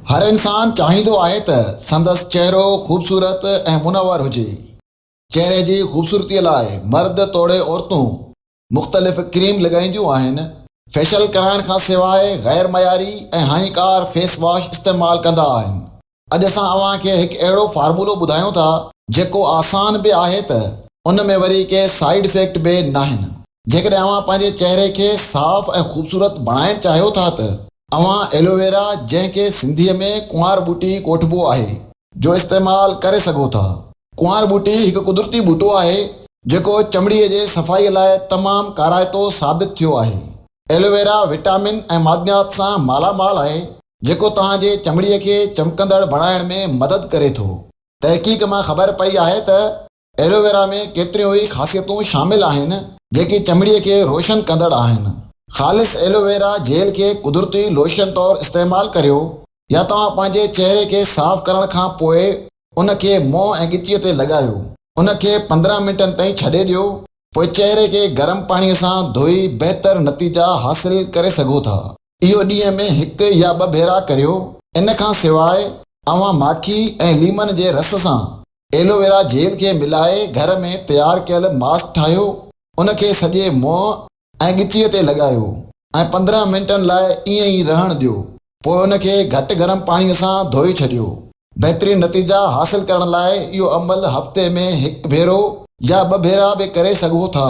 هر انسان چاهيندو آهي ته سندس چهرو خوبصورت ۽ منور هجي. چهري جي خوبصورتي لاء مرد توڙي عورتون مختلف ڪريم لڳائينديون آهن. فيشل ڪرائڻ کان سواء غير معياري ۽ هاڃڪار فيس واش استعمال ڪندا آهن. اڄ اسان اوهان کي هڪ اهڙو فارمولو ٻڌايون ٿا جيڪو آسان به آهي ته ان ۾ وري ڪي سائيڊ افيڪٽ به ناهن. جيڪڏهن اوهان پنهنجي چهري کي صاف ۽ خوبصورت بڻائڻ چاهيو ٿا ته. اوهان ايلوويرا جنهن کي سنڌي ۾ ڪنوار ٻوٽي ڪوٺبو آهي. جو استعمال ڪري سگهو ٿا. ڪنوار ٻوٽي هڪ قدرتي ٻوٽو آهي جيڪو چمڙي جي صفائي لاء تمام ڪارائتو ثابت ٿيو آهي. ايلوويرا وٽامن ۽ معدنيات سان مالا مال آهي جيڪو توهان جي چمڙي کي چمڪندڙ بڻائڻ ۾ مدد ڪري ٿو. تحقيق مان خبر پئي آهي ته. ايلوويرا ۾ ڪيتريون ئي خاصيتون شامل آهن جيڪي چمڙي کي روشن ڪندڙ آهن. خالص ايلوويرا جيل کي قدرتي لوشن طور استعمال ڪريو يا توهان پنهنجي چهري کي صاف ڪرڻ کان پوء ان کي منهن ۽ ڳچيء تي لڳايو. ان کي پندرهن منٽن تائين ڇڏي ڏيو، پوء چهري کي گرم پاڻي سان ڌوئي بهتر نتيجا حاصل ڪري سگهو ٿا. اهو ڏينهن ۾ هڪ يا ٻه ڀيرا ڪريو. ان کان سواء اوهان ماکي ۽ ليمن جي رس سان ايلوويرا جيل کي ملائي گهر ۾ تيار ڪيل ماسڪ ٺاهيو، ان کي سڄي منهن ۽ ڳچيء تي لڳايو ۽ پندرهن منٽن لاء ائين ئي رهڻ ڏيو، پوء ان کي گهٽ گرم پاڻيء سان ڌوئي ڇڏيو. بهترين نتيجا حاصل ڪرڻ لاء اهو عمل هفتي ۾ هڪ ڀيرو يا ٻه ڀيرا به ڪري سگهو ٿا.